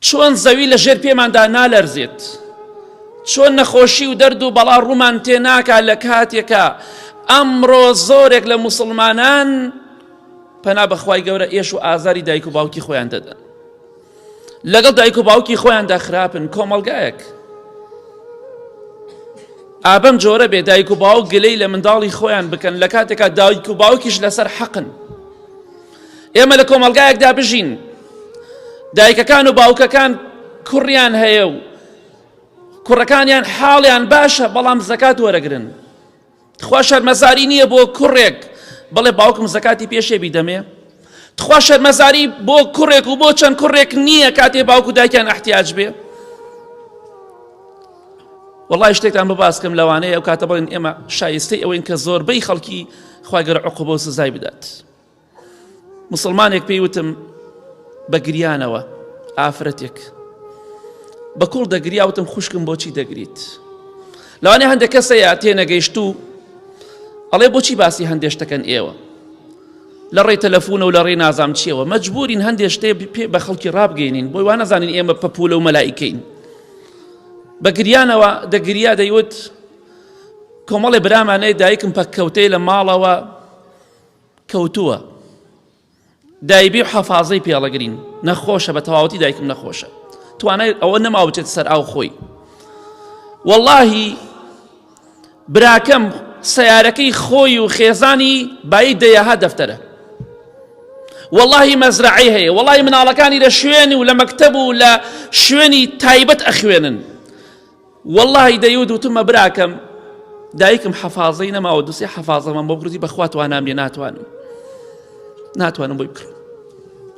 چۆن زەوی لە ژێر پێماندا نالەرزێت، چۆن نەخۆشی و دەرد و بەڵا ڕوومان تێ ناکا لە کاتێکا ئەمڕۆ زۆرێک لە موسڵمانان پەنا بەخوای گەورە ئێش و ئازاری دایک و باوکی خۆیان دەدەن لەگەڵ دایک و باوکی خۆیاندا خراپن کۆمەلگایەک ئابەم جۆرە بێ دایک و باوک گلەی لە منداڵی خۆیان بکەن لە کاتێکا دایک و باوکیش لەسەر حەقن ئێمە لە کۆمەڵگایەکدا بژین دایکەکان و باوکەکان کوڕیان هەیە و کوڕەکانیان حاڵیان باشە بەڵام زەکات وەرەگرن تخوا شەرمەزاری نییە بۆ کوڕێک بڵێ باوکم زەکاتی پێشێ بیدەمێ تخوا شەرمەزاری بۆ کوڕێک و بۆ چەند کوڕێک نییە کاتێ باوکو دایکیان احتیاج بێ وڵی شتێکتان بباسکەم لەوانەیە ئەو کاتە بڵێن ئێمە شایستەی ئەوەین کە زۆربەی خەڵکی خواگەر عقوبە و سزای بدات. مسلمانێک پێی وتم بە گریانەوە ئافرەتێک بە کوڵ دەگریاوتم خوشکم بۆچی دەگریت لەوانێ هەندە کەسە یا تێنەگەیشت و ئەڵێ بۆچی باسی هەندێشتەکەن ئێوە لە ڕێی تەلەفۆن و لە ڕێ نازام چیەوە مەجبورین هەندێ شتێ پێ بە خەڵکی ڕابگەینین بۆی وانەزانین ئێمە پەپولە و مەلایکەین بە گریانەوە دەگریا دەیوت کۆمەڵێ برامانەی دایکم پەککەوتەی لە ماڵەوە کەوتووە دایبی و حەفازەی پێڵەگرین نەخۆشە بە تەواوەتی دایکم نەخۆشە توانای ئەوە نەما بچێت سەر ئاو خۆی واللهی براکەم سیارەکەی خۆی و خێزانی بای دەیەها دەفتەرە واللهی مەزرعی هەیە وڵی مناڵەکانی لە شوێن و لە مەکتب و لە شوێنی تایبەت ئەخوێنن وەڵاهی دەیوت وتمە براکەم دایکم حەفازەی نەماوە دوسێ حەفازەمان بۆ بکردی بەخوا توانام لێ ناتوانم ناتوانم بۆی بکڕم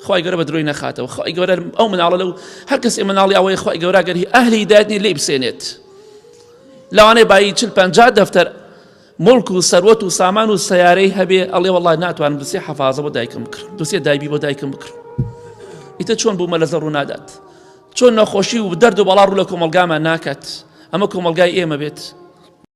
خی گەورە بە درۆی نەخاتەوە خی گەورە ئەو مناڵە لەو هەر کەسی مناڵی ئەوەی خی گەوراگەری ئەهلی دادنی لی بسێنێت لەوانەیە بایی چل پ دەفتەر موڵک و سەروەت و سامان و سەیارەی هەبێ ئەڵێ وڵی ناتوانم دوسێ حەفاازە بۆ دایکم بکرم دوسێ دایبی بۆ دایکم بکرم ئیتە چۆن بوو مەلەزە ڕوو نادات چۆن نەخۆشی و دەرد و بەڵا ڕوو لە کۆمەلگامان ناکات ئەمە کۆمەلگای ئێمە بێت